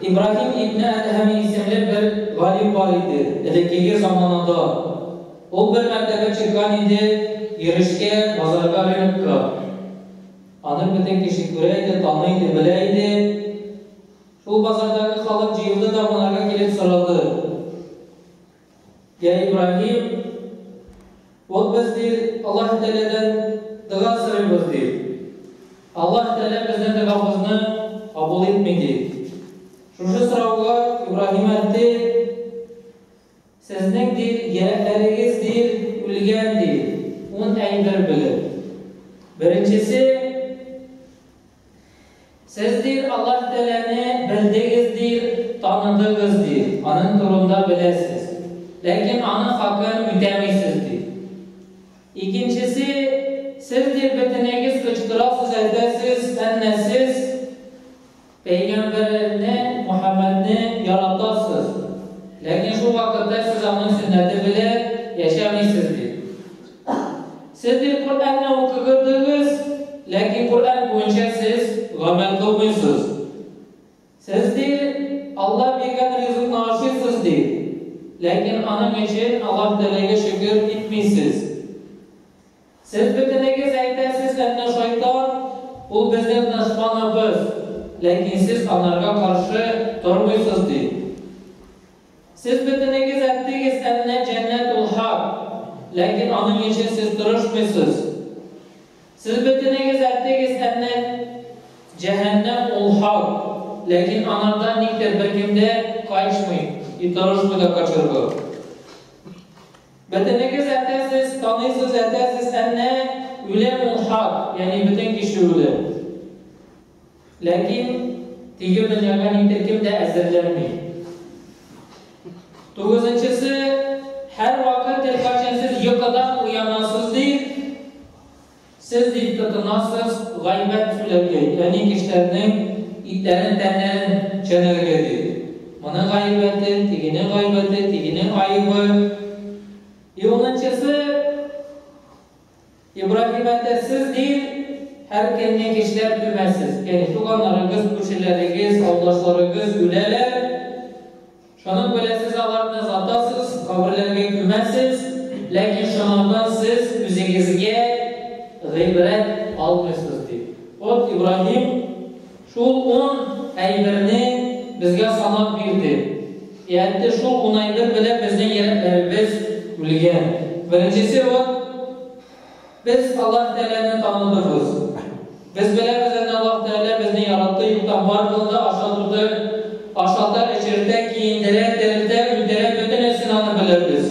Ибраһим ибне Әдһәми исемле бер галим бар иде, элеккеге заманада. Ул бер мәртәбә чыккан иде йөрешкә, базарга, рынокка. Аны бөтен кеше күрә иде, таный иде, белә иде. Шул базардагы халык җыелды да монарга килеп сорады. Я Ибраһим, ул без ди Аллаһ Тәгаләдән дога сорыйбыз ди. Аллаһ Тәгалә безнең догабызны кабул итми ди. Шушы сорауга Ибраһим әйтте, Сезнең ди яшьләрегез ди үлгән ди, ун әйбер белеп. Беренчесе Сез, дир, Аллаһ Тәгаләне белдегез, дир, таныдыгыз, дир, аның турында беләсез. Ләкин аның хакын үтәмисез, дир. Икенчесе, сез, дир, бөтенегез кычкырасыз, әйтәсез, әннә сез Пәйгамбәрне, Мухаммадны яратасыз. Ләкин шул вакытта сез аның сөннәте белән яшәмисез, дир. Сез бит Коръәнне укыгдыгыз, ләкин Коръән буенча сез гамәл кылмыйсыз. Сез, ди, Аллаһ биргән ризыкны ашыйсыз, ди, ләкин аның өчен Аллаһ Тәгаләгә шөкер итмисез. Сез бөтенегез әйтәсез, әннә шайтан, ул безнең дошманыбыз, ләкин сез анарга каршы тормыйсыз, ди. Сез бөтенегез әттегез әннә җәннәт ул хак, ләкин аның өчен сез тырышмыйсыз. Сез бөтенегез әттегез әннә җәһәннәм ул хак, ләкин анардан никтер беркем дә качмый и тырышмый да качырга. Бөтенегез әтәсез, таныйсыз әтәсез әннә үлем ул хак, ягъни бөтен кеше үлә. Ләкин тиле дөньяга ни төркем дә әзерләнми. Тугызынчысы, һәрвакыт һәркайчан сез йокыдан уянасыз дип, сез дип тотынасыз гайбәт сүләгәй, әни кешеләрнең итләрен, тәннәрен чәнәргә дип. Моның гайбәте, тигенең гайбәте, тигенең айыбы. И унынчысы, Ибраһим әтә сез диел һәркемне кичләп түмәсез, әй, туганнарыгыз, күршеләрегез, авылдашларыгыз үләләр, шуның белән сез аларны озатасыз, каберләргә күмәсез, ләкин шунардан сез үзегезгә гыйбрәт алмыйсыз, ди. Вот Ибраһим. Шул ун әйберне безгә санап бирде. Ә әтте шул ун әйбер белән безнең йөрәкләребез үлгән. Беренчесе ул, без Аллаһ Тәгаләне таныдыбыз. Без беләбез әнә Аллаһ Тәгалә безне яратты, юктан бар кылды, ашатуды, ашата, эчертә, киендерә, терелтә, үтерә, бөтенесен аны беләбез.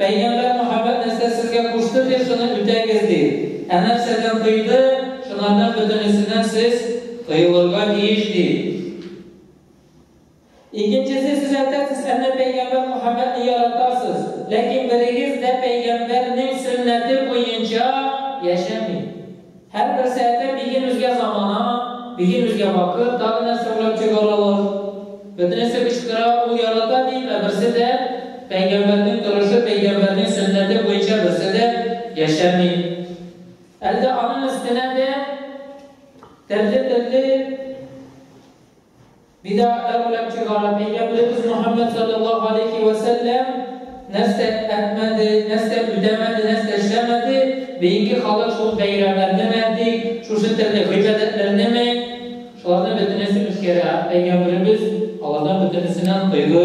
Пәйгамбәр Мөхәммәд нәрсә сезгә кушты ди, шуны үтәгез, ди. Ә нәрсәдән тыйды, шуларның бөтенесеннән сез тыелырга тиеш, ди. Икенчесе, сез әйтәсез, әнә пәйгамбәр Мөхәммәдне яратасыз, ләкин берегез дә пәйгамбәрнең сөннәте буенча яшәми. Һәр бер сәете биген үзгә замана, биген үзгә вакыт, тагы нәрсә уйлап чыгаралар. Бөтенесе кычкыра, ул ярата дип, ә берсе дә, пәйгамбәрнең торышы, пәйгамбәрнең сөннәте буенча берсе дә яшәми. Әлдә аның өстенә дә төрле-төрле Бидатлар белән чыгарып, әйгәмлебез Мөхәммәд салләллаһу галәйһи вә сәлләм нәрсә әтмәде, нәрсә үтәмәде, нәрсә эшләмәде, бейинге халык шул бәйрәмнәрне ме, әйтик, шушы төрле гыйбадәтләрне ме, шуларны бөтенесе үткәрә, әйгәмбребез алардан бөтенесеннән тыйды.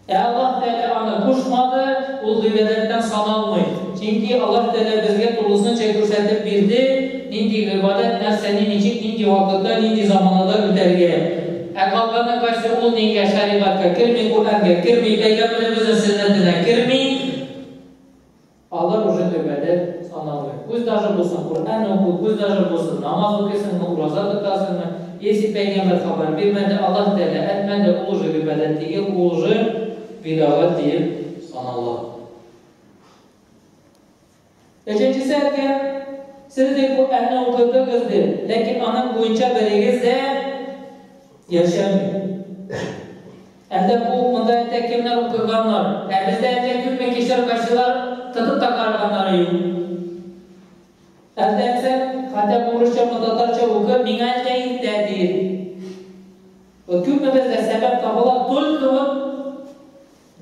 Ә Аллаһ Тәгалә аны кушмады, ул гыйбадәттән саналмый. Чөнки Аллаһ Тәгалә безгә тулысынча күрсәтеп бирде, нинди гыйбадәт, нәрсәне, ничек, нинди вакытта, нинди заманада үтәргә. Ә калганы кайсы, ул дингә, шәригатькә керми, Коръәнгә керми, пәйгамбәребезнең сөннәтенә керми. Алар уже гыйбадәт саналмый. Күз даже булсын, Коръән уку, күз даже булсын, намаз укыйсыңмы, ураза тотасыңмы, если пәйгамбәр хабар бирмәде, Аллаһ Тәгалә әтмәде, ул уже гыйбадәт тигел, ул уже бидагать диеп санала. Өченчесе әйткән, сез дип Коръәнне укыдыгыз дип, ләкин аның буенча берегез дә яшәми. Әллә бу, монда әллә кемнәр утырганнар, ә бездә әллә күпме кишер кайчылар тотып та караганнары юк. Әллә әйтсәк, хәтәп урысчамы, татарча укы, миңа әллә иртә, диер. Вот күпме бездә сәбәп табыла, только вот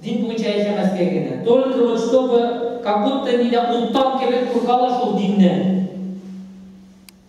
дин буенча яшәмәскә генә, только вот чтобы как будто нидә уттан кебек куркалар шул диннән.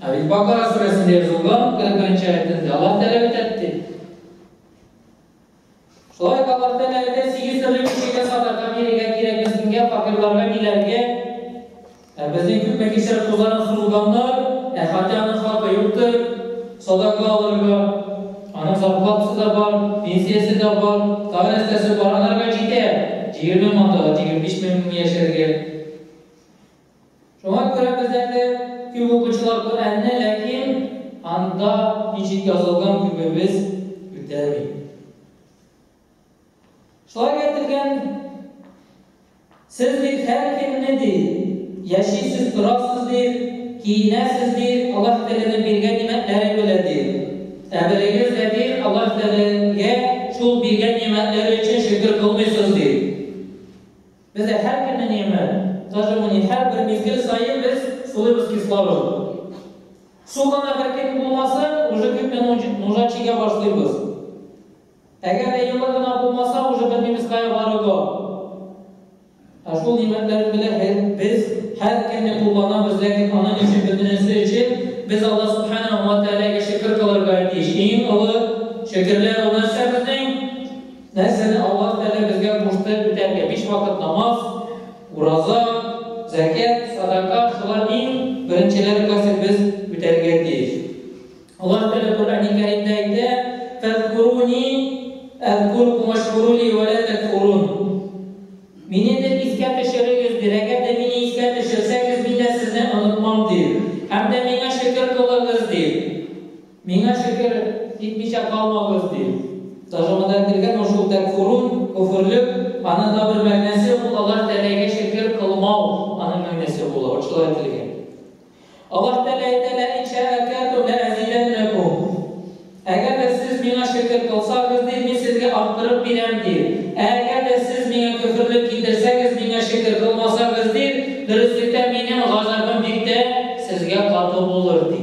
Ә бит Бакара сүрәсендә язылган, 41 аятендә Аллаһ Тәгалә бит әйтте. Шулай ук Аллаһ Тәгалә әйтә, сигез төрле кешегә садака бирергә кирәк, мескенгә, факирларга, миләргә. Ә безнең күпме кешеләр тузанып сузылганнар, ә хәтта аның хакы юктыр, садака алырга. Аның зарплатасы да бар, пенсиясе дә бар, тагы нәрсәсе бар, анарга җитә. Җигерме мандала, җигерме биш мең яшәргә. Шуңа күрә без әле күп укучылар Коръәнне, ләкин анда ничек язылган күбебез үтәми. Шулай әйтелгән, сез бит һәр көнне ди, яшисез, торасыз ди, киенәсез ди, Аллаһ Тәгаләнең биргән нигъмәтләре белән ди. Ә берегез дә ди, Аллаһ Тәгаләгә шул биргән нигъмәтләре өчен шөкер кылмыйсыз ди. Бездә һәр көнне нигъмәт. Даже бу ни, һәрбер мизгел саен без сулыйбыз кислород. Су гына беркем булмаса, уже күпме нужа чигә башлыйбыз. Әгәр дә елы гына булмаса, уже белмибез кая барырга. Ә шул нигъмәтләр белән без һәр көнне кулланабыз, ләкин аның өчен бөтенесе өчен без Алла субханаһу ва тәгаләгә шөкер кылырга тиеш. Иң олы шөкерләр ул нәрсә безнең? Нәрсәне Аллаһ Тәгалә безгә кушты үтәргә? Биш вакыт намаз, ураза, зәкят, садака, шулар иң беренчеләр кайсы без үтәргә тиеш. Аллаһ Тәгалә Коръәни Кәримдә әйтә, "Фәзкуруни әзкуркум ашкурули ва ла такфурун". Мине дә искә төшерегез, дир. Әгәр дә мине искә төшерсәгез, мин дә сезне онытмам, дир. Һәм дә миңа шөкер кылыгыз, дир. Миңа шөкер, китмичә калмагыз, ди. Тажамада әйтелгән ул шул тәкфурун, көферлү, аның да бер мәгънәсе ул Аллаһ Тәгаләгә шөкер кылмау, аның мәгънәсе була, вот шулай әйтелгән. Аллаһ Тәгалә әйтә, Лә ин шәәкәртүм лә әзидәннәкүм. Әгәр дә сез миңа шөкер кылсагыз, ди, мин сезгә арттырып бирәм, ди. Ә әгәр дә сез миңа көферлек китерсәгез, миңа шөкер кылмасагыз, ди, дөреслектә минем газабым бик тә сезгә каты булыр, ди.